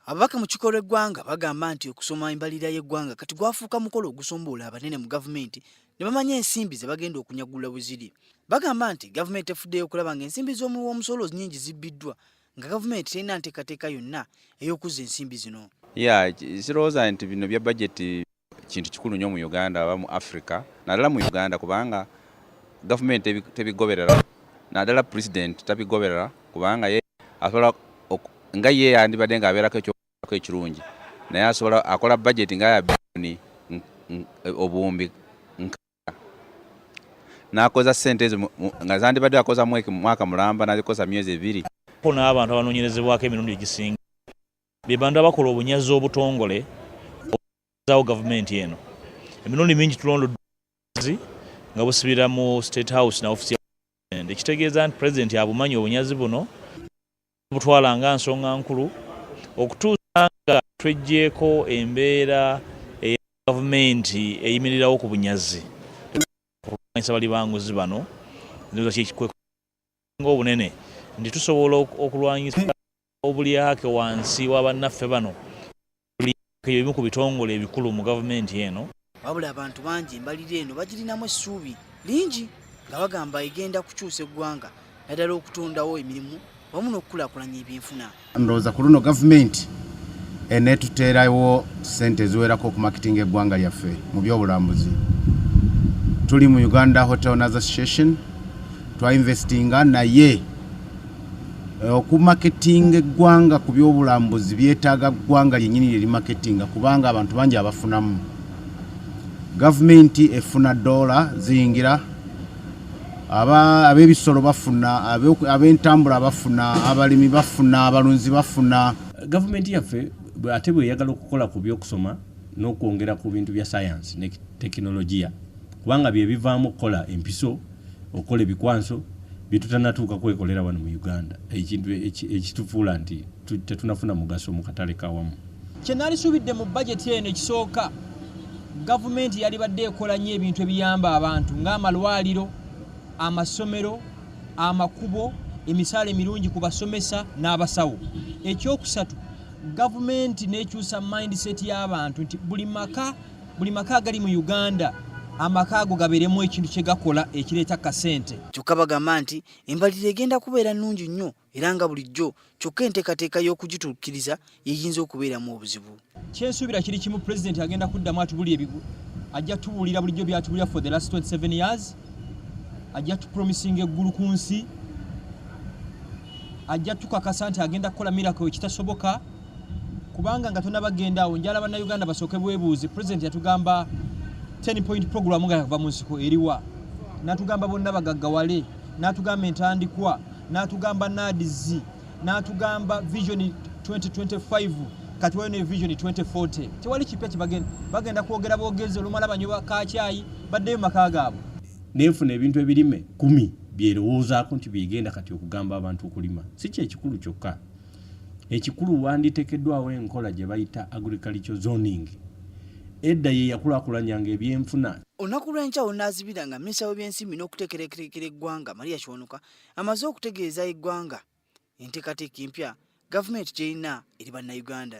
Ababaka mu kikolo eggwanga bagamba nti okusoma embalirira y'eggwanga kati gwafuuka mukolo ogusomboola abanene mu gavumenti ne bamanya ensimbi ze bagenda okunyagulula bwe ziri. Bagamba nti gavumenti efuddeyo okulaba ng'ensimbi z'omuwi w'omusolo nnyingi zibbiddwa nga gavumenti terina nteekateeka yonna ey'okuzza ensimbi zino. Ya kirowooza nti bino bya bajeti kintu kikulu nnyo mu Uganda aba mu Africa naddala mu Uganda kubanga gavumenti tebigoberera naddala pulezidenti tabigoberera kubanga ye asobola nga ye yandibadde ng'abeerako ekyokulabako ekirungi naye asobola akola bajeti nga ya bilioni obuwumbi nkaaga n'akoza ssente ezo nga zandibadde akoza mwaka mulamba n'azikoza myezi ebiri. Ko n'abantu abanoonyerezebwako emirundi egisinga. be bantu abakola obunyazi obutongole obuzawo gavumenti eno emirundi mingi tulondozi nga busibira mu state house na ofisi ekitegeeza nti pulezidenti abumanyi obunyazi buno butwala nga nsonga nkulu okutuusa nga tweggyeko embeera eya gavumenti eyimirirawo ku bunyazi okulwanyisa bali banguzi bano ndoza kyekikwe nga obunene nti tusobola okulwanyisa obulyake wansi wa bannaffe bano ebimu ku bitongole ebikulu mu gavumenti eno. Wabula abantu bangi embalirira eno bagirinamu essuubi lingi nga bagamba egenda kukyusa eggwanga naddala okutondawo emirimu wamu n'okukulaakulanya ebyenfuna. Ndowooza ku luno gavumenti eneetuteerawo ssente eziwerako okumakitinga eggwanga lyaffe mu byobulambuzi. Tuli mu Uganda Hotel Association twainvestinga naye Eh, okumaketinga eggwanga ku byobulambuzi byetaaga ggwanga lyenyini lye limaketinga kubanga abantu bangi abafunamu gavumenti efuna doola ziyingira ab'ebisolo bafuna ab'entambula bafuna abalimi bafuna abalunzi bafuna gavumenti yaffe ate bweyagala okukola ku byokusoma n'okwongera ku bintu bya sayansi ne tekinologiya kubanga bye bivaamu okukola empiso okukola ebikwanso byetutanatuuka kwekolera wano mu uganda ekintu ekitufuula nti tetunafuna mugaso mu katale kawamu kyenalisuubidde mu bajeti eno ekisooka gavumenti yalibadde ekola nnyo ebintu ebiyamba abantu ng'amalwaliro amasomero amakubo emisaala emirungi ku basomesa n'abasawo ekyokusatu gavumenti n'ekyusa mindset y'abantu nti buli maka buli maka agali mu uganda amaka ago gabeeremu ekintu kye gakola ekireeta kasente kyokka bagamba nti embalirira egenda kubeera nnungi nnyo era nga bulijjo kyokka enteekateeka y'okugituukiriza yeyinza okubeeramu obuzibu kyensuubira kiri kimu pulezidenti agenda kuddamu atubuli ebigu ajja tubuulira bulijjo byatubulira for the last 27 years ajja tupromisinga eggulu ku nsi ajja tukakasa nti agenda kukola mirako ekitasoboka kubanga nga tonaba genda awo njala bannayuganda basooke bwebuuzi president yatugamba 10 point program nga yava mu nsiko eriwa natugamba bonna bagaggawale natugamba entandikwa natugamba nadzi natugamba vision 2025 katiwayo ne vision 2040 tewali kipya kibagenda bagenda kwogera bogezi olumala banyoba kakyayi baddeyo maka gaabwe nenfuna ebintu ebirime kumi byerowoozaako nti byegenda kati okugamba abantu okulima si kyekikulu kyokka ekikulu wanditekeddwawo enkola gye bayita agriculture zoning edda ye yakulakulanyanga ebyenfuna olunaku lw'enkya wonaazibira nga minisita w'ebyensimbi n'okuteekerekerekera eggwanga maria kiwanuka amaze okutegeeza eggwanga enteekateeka empya gavumenti gy'erina eri bannayuganda